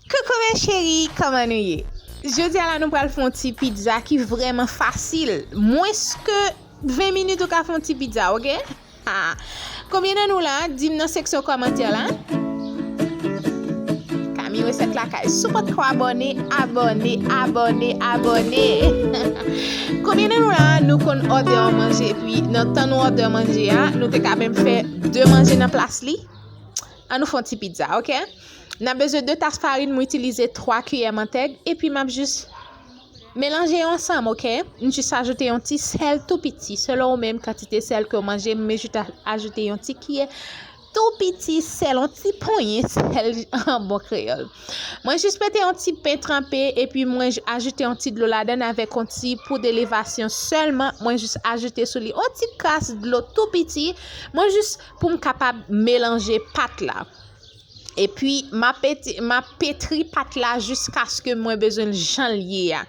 Coucou mes cheries kòman nou ye jodia la nou pral fè yon ti pizza ki vrèman fasil mwens ke 20 minit ou ka fè yon ti pizza ok haa konbyen nan nou la dim nan seksyon kòmantè la Camie recette lakay si w potko abòne abòne abòne abòne konbyen nan nou la nou konn òdè yon manje epi nan tan nou òdè manje a nou te ka menm fè 2 manje nan plas li. An nou fè yon ti pizza ok. Nap bezwen 2 tas farin mwen itilize 3 kiyè mantèg epi map jis Melanje yo ansanm ok. M jis ajoute yon ti sèl tou piti selon ou menm kantite sèl kew manje m jis ajoute yon ti kiyè tou piti sèl yon ti ponyen sèl an bon kreyòl. Mwen jis mete yon ti pen tranpe epi mwen ajoute yon ti dlo ladann avèk yon ti poud elevasyon sèlman mwen jis ajoute sou li yon ti kras dlo tou piti mwen jis poum kapab melanje pat la epi ma petri pat la jiskaske mwen bezwen l janl ye a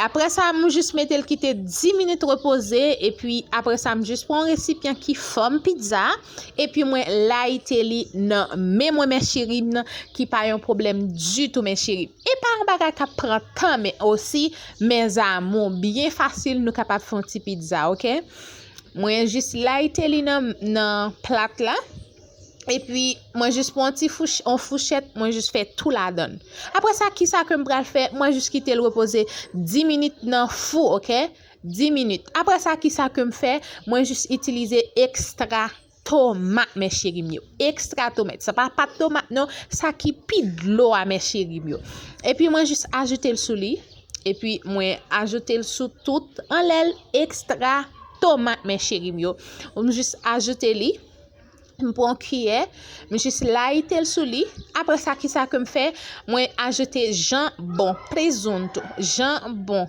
aprè sa m jis metel kite 10 minit repoze epi aprè sa m jis pran yon resipyan ki fòm pizza epi mwen layite li nan men mwen men cheri m nan ki pa yon problèm ditou men cheri e pa yon bagay kap pran tan men osi men zamou byen fasil nou kapab fon ti pizza ok. Mwen jis layite li nan plat la. E pi mwen jis pran ti fouchèt, mwen jis fè tou ladan. Apre sa, ki sa ke m pral fè? Mwen jis kite l repoze 10 minit nan fou, ok? 10 minit. Apre sa, ki sa ke m fè? Mwen jis itilize ekstra tomat mes cherim yo extra tomat sa pa pat tomat non sa ki pi dlo a mes cherim yo epi mwen jis ajoute l sou li epi mwen ajoute l sou tout anlèl extra tomat mes cherim yo mwen jis ajoute li m pran kiyè m jis layite l sou li apre sa ki sa ke m fè mwen ajoute janbon prezonto janbon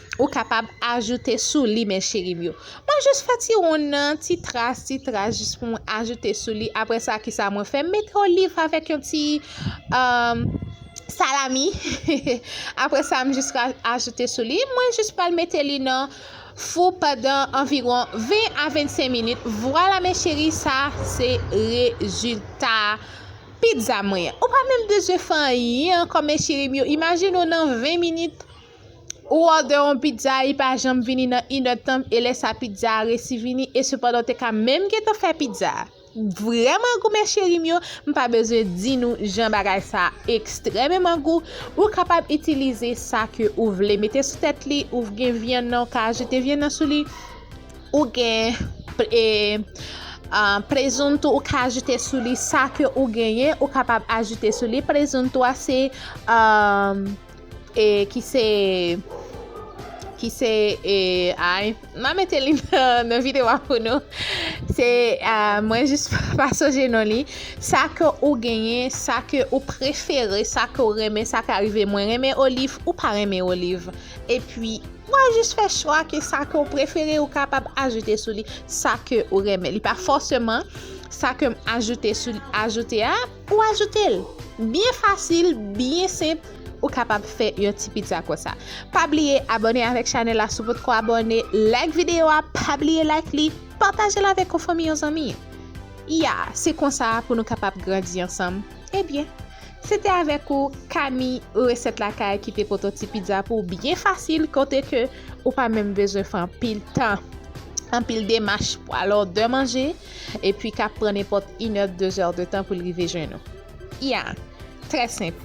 Ou kapab ajoute sou li mes cherim yo. Mwen jis fè ti wonn nan, ti tras, ti tras jis pou mwen ajoute sou li. Aprè sa ki sa mwen fè? M mete oliv avèk yon ti salami. Aprè sa m jis ajoute sou li. Mwen jis pral mete li nan fou pandan anviron 20 a 25 minit. Vwala mes cheri sa se rezilta pizza mwen. Ou pa menm bezwen fè anyen ankò mes cherim yo. Imajine ou nan 20 minit. Ou òdè yon pizza li pa janm vini nan inèdtan e lè sa pizza a resi vini e sepandan ou te ka menm gentan fè pizza a vrèman gou mes cheri m yo m pa bezwen di nou jan bagay sa ekstrèmeman gou ou kapab itilize sa ke ou vle mete sou tèt li ou gen vyann nan ou ka ajoute vyann nan sou li ou gen e prezunto ou ka ajoute sou li sa ke ou genyen ou kapab ajoute sou li prezunto a se a E ki se Ki se e ay ma mete li nan video a pou nou se mwen jis pa sonje non li sa ke ou genyen sa ke ou prefere sa ke ou renmen sa ka rive mwen renmen oliv ou pa renmen oliv epi wa jis fè chwa ke sa ke ou prefere ou kapab ajoute sou li sa ke ou renmen li pa fòseman sa kem ajoute sou ajoute a Pou ajoute l. Byen fasil, byen senp, ou kapab fè yon ti pizza konsa. Pa bliye abòne avèk chanèl la si w potko abòne, like videyo a, pa bliye like li, pataje l avèk yon fanmi, yon zanmi. Ya, se konsa pou nou kapab grandi ansanm. Ebyen, se te avèk ou Kami Resèt Lakay ki te pote yon ti pizza pou w byen fasil kote ke ou pa menm bezwen fè anpil tan, anpil demach pou al òdè manje. epi k ap pran nenpòt inè, dezè de tan pou l rive jwenn ou. Ya! Trè senp.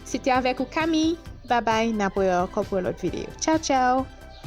Se te avèk ou Camille! Babay, n ap wè ou ankò pou yon lòt videyo. Tchaw tchaw!